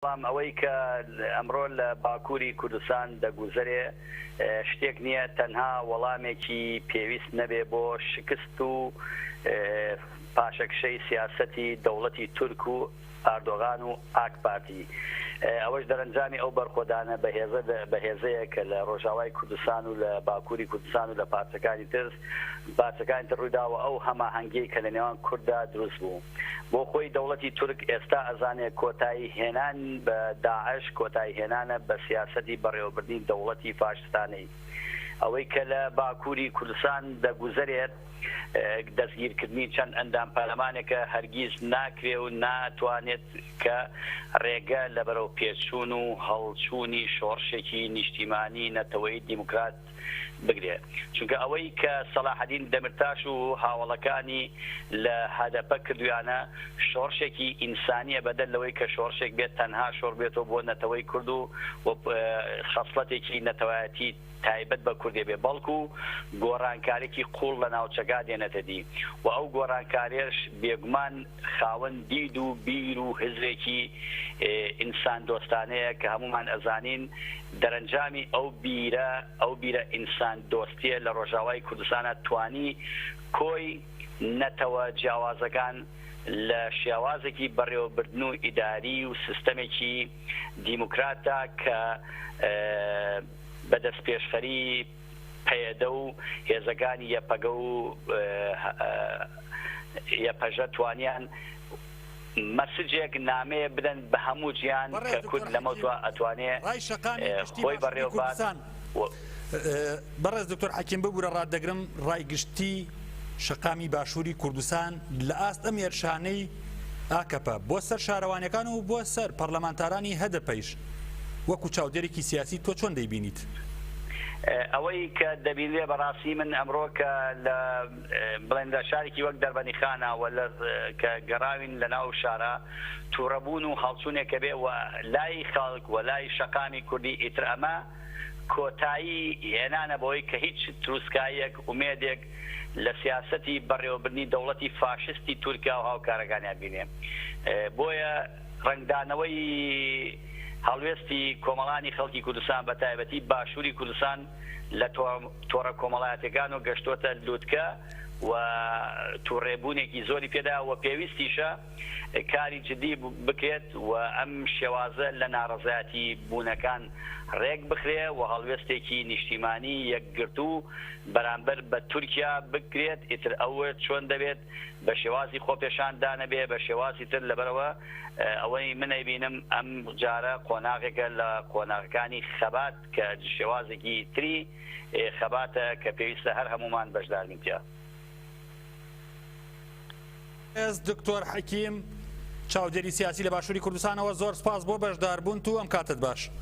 بەڵام ئەوەی کە ئەمڕۆ لە باکووری کوردستان دەگوزەرێ شتێک نییە تەنها وەڵامێکی پێویست نەبێ بۆ شکست و پاشەکشەی سیاسەتی دەوڵەتی تورک و ئاردۆغان و ئاک پارتی. ئەوەش دەرەنجامی ئەو بەرخۆدانە بەهێزە بەهێزەیە کە لە ڕۆژاوای کوردستان و لە باکووری کوردستان و لە پارچەکانی تر پارچەکانی تر ڕوویدا و ئەو هەماهەنگیەی کە لە نێوان کورددا دروست بوو. بۆ خۆی دەوڵەتی تورک ئێستا ئەزانێ کۆتایی هێنان بە داعش کۆتایی هێنانە بە سیاسەتی بەڕێوەبردنی دەوڵەتی فاشستانەی ئەوەی کە لە باکوری کوردستان دەگوزەرێت دەستگیر کردنی چەند ئەندام پەرلەمانێکە هەرگیز ناکرێ و ناتوانێت کە ڕێگە لە بەرەو پێشچوون و هەڵچوونی شۆڕشێکی نیشتیمانی نەتەوەی دیموکرات بگرێ چونکە ئەوەی کە سەلاحەدین دەمرتاش و هاوەڵەکانی لە هەدەپە کردویانە شۆڕشێکی ئینسانیە بەدەر لەوەی کە شۆڕشێک بێت تەنها شۆڕ بێتۆ بۆ نەتەوەی کورد و خەسڵەتێکی نەتەوایەتی تایبەت بە کوردێ بێ بەڵکو گۆڕانکارێکی قوڵ لە ناوچەکە دێنێتە دی و ئەو گۆڕانکارێش بێگومان خاوەن دید و بیر و هزرێکی ئینسان دۆستانەیە کە هەموومان ئەزانین دەرەنجامی ئەو بیرە ئەو بیرە ئینسان دۆستیە لە ڕۆژاوای کوردستانا توانی کۆی نەتەوە جیاوازەکان لە شێوازێکی بەڕێوەبردن و ئیداری و سیستەمێکی دیموکراتدا کە بە دەستپێشخەری پەیەدە و هێزەکانی یەپەگە و یەپەژە توانیان مەسجێک، نامەیە بدەن بە هەموو جیهان کە کورد لەمەو دوا ئەتوانێ خۆی بەڕێوە بات. بەڕێز دکتۆر حەکیم ببورە ڕات دەگرم ڕای گشتی شەقامی باشووری کوردستان لە ئاست ئەم هێرشانەی ئاکەپە بۆ سەر شارەوانیەکان و بۆ سەر پەرلەمانتارانی هەدەپەیش وەکو چاودێرێکی سیاسی تۆ چۆن دەیبینیت؟ ئەوەی کە دەبینرێ بەڕاستی من ئەمڕۆ کە لە بڵێن لە شارێکی وەک دەربەنیخانە و لە کە گەڕاوین لە ناو شارە تووڕەبوون و هەڵچوونێکە بێ و لای خەڵک و لای شەقامی کوردی ئیتر ئەمە کۆتایی هێنانە بەوەی کە هیچ تروسکاییەک، ئومێدێک لە سیاسەتی بەڕێوەبردنی دەوڵەتی فاشستی تورکیا و هاوکارەکانیا بینێ. بۆیە ڕەنگدانەوەی هەڵوێستی کۆمەڵانی خەڵکی کوردستان بە تایبەتی باشووری کوردستان لە تۆڕە کۆمەڵایەتیەکان و گەشتۆتە لوتکە و توڕێبوونێکی زۆری پێدایە و پێویستیشە کاری جدی بکرێت و ئەم شێوازە لە ناڕەزایەتی بوونەکان ڕێک بخرێ و هەڵوێستێکی نیشتیمانی یەکگرتوو بەرامبەر بە تورکیا بکرێت ئیتر ئەو چۆن دەبێت بە شێوازی خۆپێشان دانە بێ بە شێوازی تر لەبەرئەوە ئەوەی من ئەیبینم ئەم جارە قۆناغێکە لە قۆناغەکانی خەبات کە شێوازێکی تری خەباتە کە پێویستە هەر هەموومان بەشداربین تیا. بەڕێز دکتۆر حەکیم چاودێری سیاسی لە باشووری کوردستانەوە زۆر سپاس بۆ بەشداربوونت و ئەم کاتەت باش.